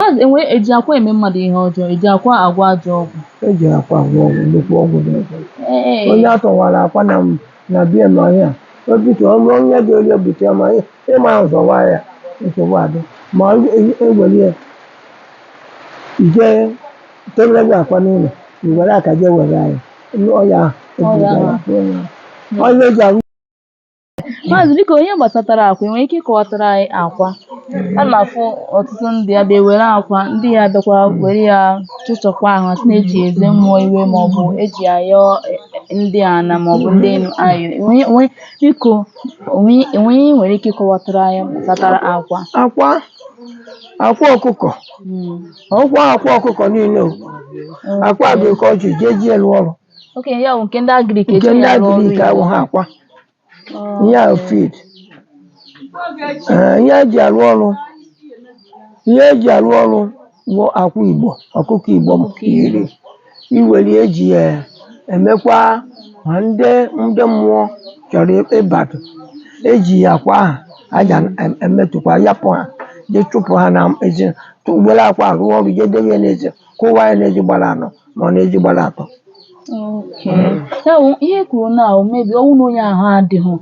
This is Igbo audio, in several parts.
Maazị enwe eji akwa eme mmadụ ihe ọjọọ eji akwa agwọ ajọ ọgwụ eji akwa agwọ ọgwụ nnukwu ọgwụ dị ọgwụ ee onye atọwara akwa na na bie na ọhịa obite ọrụ onye dị onye bute ya ma ị- ịma nzọwa ya nsogbu adị ma ọ e- ewere ya jee debere gị akwa n'ụlọ i were aka jee were ya ọya Ọya ahụ. ọya eji arụ Maazị biko n'ihe gbasatara akwa i nwere ike ịkọwatara anyị akwa a na-afụ ọtụtụ ndị ya bịa were akwa ndị ya bịakwa were ya chụchakwa ahụ sị na eji eze mmụọ iwe ma ọ bụ eji ayọ ndị ana ma ọ bụ ndị enu ayọ Enwe- enwe- biko o nwe o nwe ihe i nwere ike ịkọwatara anyị gbasatara akwa akwa akwa ọkụkọ Mm. ọkwa akwa ọkụkọ niile o. akwa agrik ejighị eji alụ ọrụ okenye ya bụ nke ndị agrik nke ndị agrik ahụ ha akwa ihe ahụ feed Ee, ihe eji arụ ọrụ ihe eji arụ ọrụ bụ akwa Igbo ọkụkọ Igbo m iri iwere eji ya emekwa ma ndị ndị mmụọ chọrọ ịbata eji ya akwa ahụ aja emetụkwa yapụ ha jee chụpụ ha n'ezi were akwa rụọ ọrụ jee debe ya n'ezi kụwa ya n'ezi gbara anọ ma ọ n'ezi gbara atọ Okay. Ya bụ ihe i kwuru na maybe ọ wụ na onye ahụ adịghị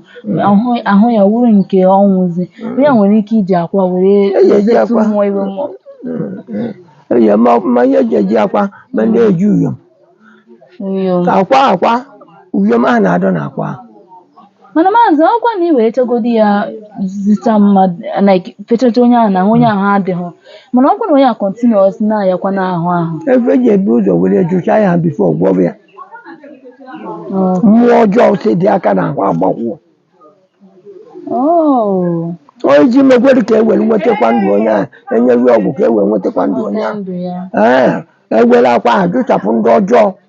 ahụ ahụ ya wụrụ nke ọ wụzị ya nwere ike iji akwa were Eji eji ezetụ akwa. mmụọ iwe mmụọ Eyi ma ma ihe eji eji akwa ma ndị eji uyom Uyom. akwa akwa uyom ahụ na-adọ na akwa ahụ mana maazị ọkwa na ị wee chọgodi ya zita mmadụ like fechata onye ahụ na ahụ onye ahụ adịghị mana ọkwa na onye a continuous na-ayakwa n'ahụ ahụ ebe eji ebu ụzọ were jụcha ya before gwọrọ ya Oh. mmụọ ọjọọ si dị aka na ahụ agbakwụọ Oh. onye ji mekwere ka e were nwetakwa ndụ onye ahụ enyeru ọgwụ ka e wee nwetakwa ndụ onye ahụ Ndụ ya. ee ewere akwa ahụ jụchapụ ndị ọjọọ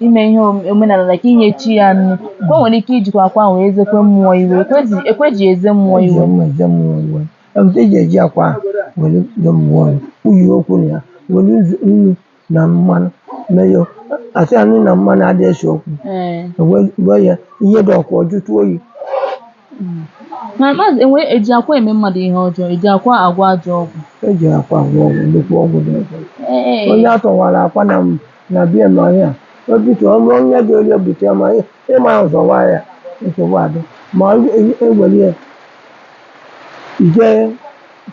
ime ihe omenala like inye chi ya nri ka o nwere ike ijikwa akwa ahụ wee zekwe mmụọ iwe ekwezi ekweji eze mmụọ iwe eze mmụọ iwe eweta eji eji akwa were nye mmụọ nri uyi okwu na ya were nzu- nnu na mmanụ mee ya asị ya nnu na mmanụ adị ese okwu ee wee ya ihe dị ọkụ ọ jụtụ oyi Mm. na maazị enwe eji akwa eme mmadụ ihe ọjọọ eji akwa agwọ ajọ ọgwụ eji akwa agwọ ọgwụ nnukwu ọgwụ dị ọgwụ Ee. onye atọwara akwa na na bie ma ya o bute ọnụ onye dị onye bute ma ị- ịma nzọwa ya nsogbu adị ma ọ e- ewere ya jee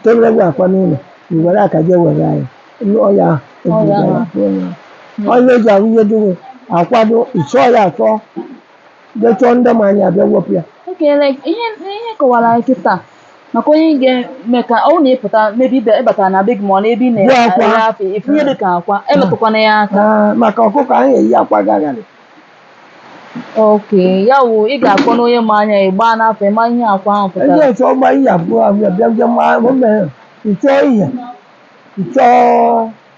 debere gị akwa n'ụlọ i were aka jee were ya Ndị ọya ahụ Ọya ebuga ya ahụ. pụọ ya. onye ji ahụ ihe dịghị akwado ịchọ ya achọ jee chọọ ndị ma anya abịa wepụ ya Okay, like ihe ị kọwara anyị kịta maka onye ga-eme ka ọ bụrụ na ị pụta maybe ị batara na be gị ma ọ n'ebe ị Bụ akwa. na-ere afịa ị fụ ihe dị ka akwa emetụkwana ya aka Ah, maka ọkụkọ anaghị eyi akwa gagharị Okay, ya wụ ị ga-akpọ onye ma anya ị gbaa n'afa ịma ihe akwa ahụ pụtara ndị ọchọ ọgba ihe abụọ abịa bịa bịa ma o mere ịchọọ ihe ịchọọ